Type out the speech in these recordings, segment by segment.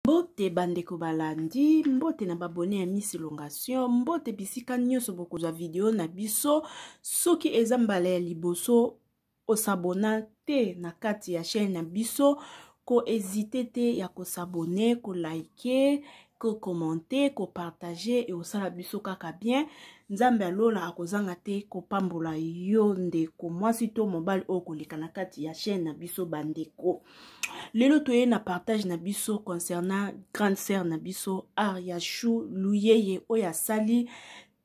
mbote bandeko balandi mbote na babone ya miss elongation mbote bisika nyonso bokozwa video na biso soki eza mbala ya liboso osabona te na kati ya chaîne na biso koezite te ya kosabone kolike kokomante kopartage eosala biso kaka bien nzambe ya lola akozanga te kopambola yo ndeko mwasi to mobali oyo koleka na kati ya chaîne na biso bandeko lelo toye na partage na biso concernant grande sœur na biso ariachou luyeye oyo asali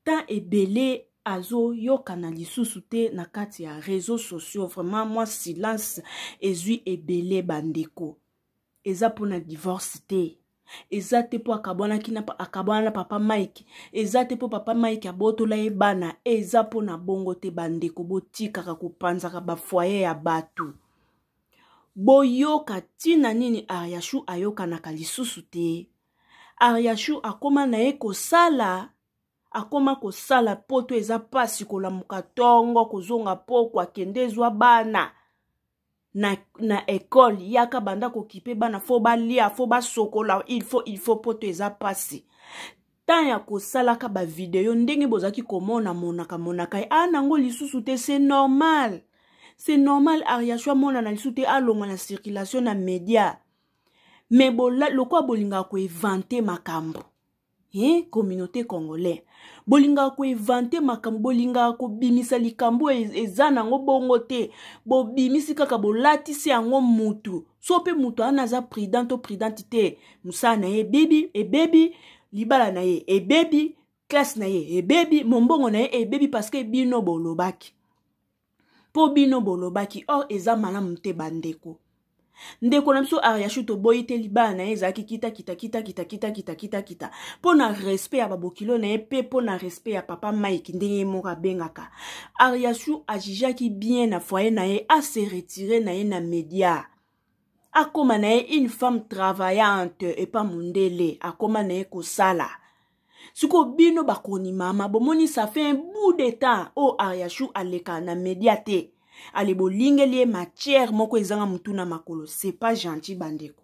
temps ebele azoyokana lisusu te na kati ya réseau sociaux vraiment mwa silence ezwi ebele bandeko eza mpona divorce te eza te mpo akabwanaki na akabwana na papa mike eza te mpo papa mike abotola ye bana eza mpo na bongo te bandeko botikaka kopanzaka bafoye ya bato boyoka ntina nini ariashu ayokanaka lisusu te ariashu akoma na ye kosala akoma kosala poto eza mpasi kolamuka ntongo kozonga poko akende ezwa bana na, na ekole yaka banda kokipe bana fo balia fo basokola ilfo ilfo poto eza mpasi temps ya kosalaka bavideo ndenge bozalaki komona monaka monaka ye aa nango lisusu te c'est normal c'est normal ariasho amonana lisusu te alongwa na circulation na média mais lokola bolingaka koevante makambo eh, communauté congolais bolingaka koevante makambo bolingaka kobimisa likambo oyo e, eza nango bongo te bobimisi kaka bolatisi yango mutu so mpe moto wana aza prudent to prudente te mosala na ye ebebi ebebi libala na ye ebebi classe na ye ebebi mombongo na ye ebebi parceke bino bolobaki mpo bino bolobaki or eza malamu te bandeko ndeko na biso ariashu toboyi te libala na ye ezalaki kitakitakitakitakitakitakitakita mpo na respect ya babokilo na ye mpe mpo na respect ya papa mike ndenge ye moko abengaka ariachou ajijaki bien na foye na ye ase retire na ye na media akoma na ye une femme travaillante epa mondele akoma na ye kosala sikoyo bino bakoni mama bomoni ça fait un bout de temps oyo ariachou aleka na media te ale bolingeli ye matière moko ezanga motuna makolo c'est pas gentil bandeko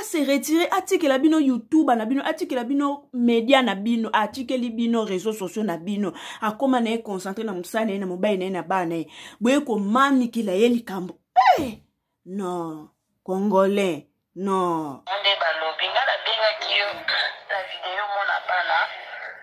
ase retire atikela bino youtube na bino atikela bino media na bino atikeli bino réseau sociaux na bino akóma na ye concentre na mosala na ye na mobali na ye na bana na ye boye komanikela ye likambo hey! Eh! non congolais non nde balobi nga nabengaki yo na video mona bana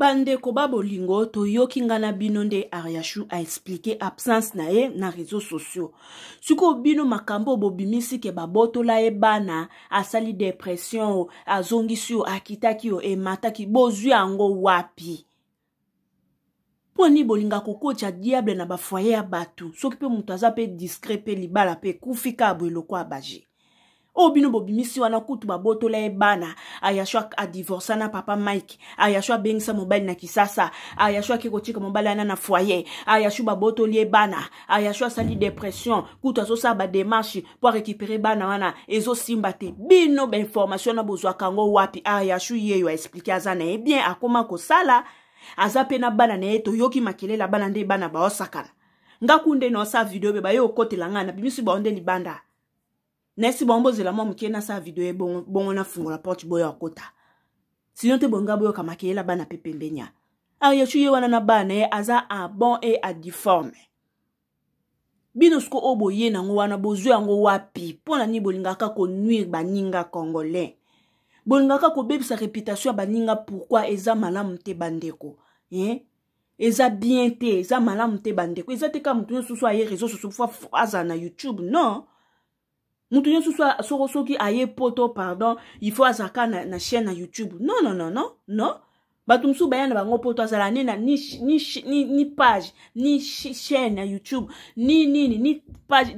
bandeko ba bolingo toyoki nga na bino nde ariachou aexplike absence na ye na réseau sociaux sikoyo bino makambo oyo bobimisi ke babotola ye bana asali depression o azongisi yo akitaki yo emataki bozwi yango wapi mpo nini bolinga kokotya diable na bafoye ya bato soki mpe moto aza mpe discret mpe libala mpe ekufi kaka boye lokwa baje oyo bino bobimisi wana kutu babotola ye bana ayasho adivorsa na papa mike ayasho abengisa mobali na kisasa ayasho ake kotika mobali ana na foyer ayasho babotoli ye bana ayasho asali depression kutu azosala bademarche mpo arekipere bana wana ezosimba te bino bainformation na bozwaka yango wapi ayasho yeyo aexplike aza na ye bien akoma kosala ah, aza mpe na bana na ye toyoki makelela bana nde bana baosakana nga kunde na osala video be baye okotela ngai na bimisi bao nde libanda nayesi bango bozela mwa moke nasala video ye bongo, bongo nafungola porte boya okota sino te bonga boyoka makelela bana mpe pembenia ayesu ye wana na bana ye aza abon e adiforme bino siko oyo boye nango wana bozwi yango wapi mpo na nini bolingaka konuire baninga congolais bolingaka kobebisa reputation ya baninga pourkui eza malamu te bandeko eh? eza bien te eza malamu te bandeko eza te kaka moto nyonso soso aye réseau soso fo azala na youtube non mutu nyonso soko soki aye poto pardon il faut azalaka na, na chaîne na youtube non non non non non bato mosusu baya na bango poto azala ne na ni, ni, ni, ni page ni chaîne ya youtube ni nini ni page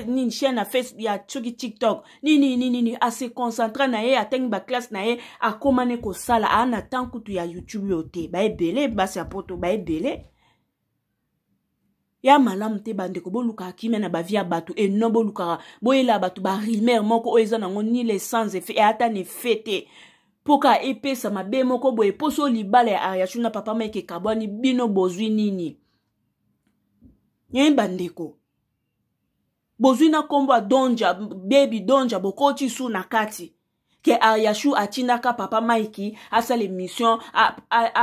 nini chaîne ya face ya soki tiktok nini nini nini ase concentre na ye atangi baklasse na ye akoma ne kosala aa na temps kutu ya youtube oyo te baebele basi ya poto baebele ya malamu te bandeko bolukaka kimia na bavie ya bato e non bolukaka boyelaka bato barumeur moko oyo eza nango ni le sans effet ata na effet te mpo kaka epesa mabe moko boye mposo oyo libala ya ariachou na papa mike ekabwani bino bozwi nini ye bandeko bozwi na nkombo ya donja bebi donja bokoti su na kati ke ariachou atindaka papa mike asala émission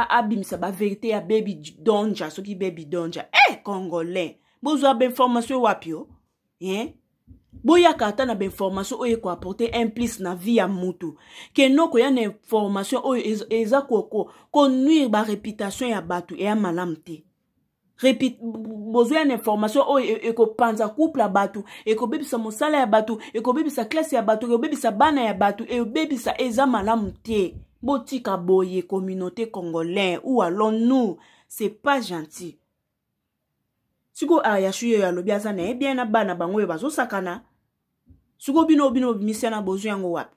abimisa baverité ya bebi donja soki bebi donja e eh, hey, congolais bozwa bainformation wapi o eh? boyaka ata na bainformation oyo ekoaporte un plus na vie ya mutu keno koya na information oyo eza konuire bareputation ya bato eya malamu te bozwa na information oyo e, e, ekopanza couple ya bato ekobebisa mosala ya bato ekobebisa klase ya bato ekobebisa bana ya bato ebebisa eza malamu te botika boye communauté congolais ou allons nous c'est pas gentil sikoyo ayasu ah, yeyo alobi aza na ye bien na bana bango oyo bazosakana sikoyo bino bino bimisiana bozwi yango wapi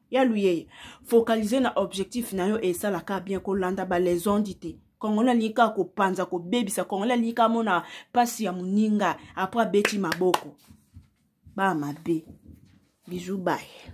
ya luyeye focalise na objectif na yo esalaka bien kolanda balesondi te congolais alingi kaka kopanza kobebisa congolais alingi kaka amona mpasi ya moninga apres abeti maboko baa mabe bizu baye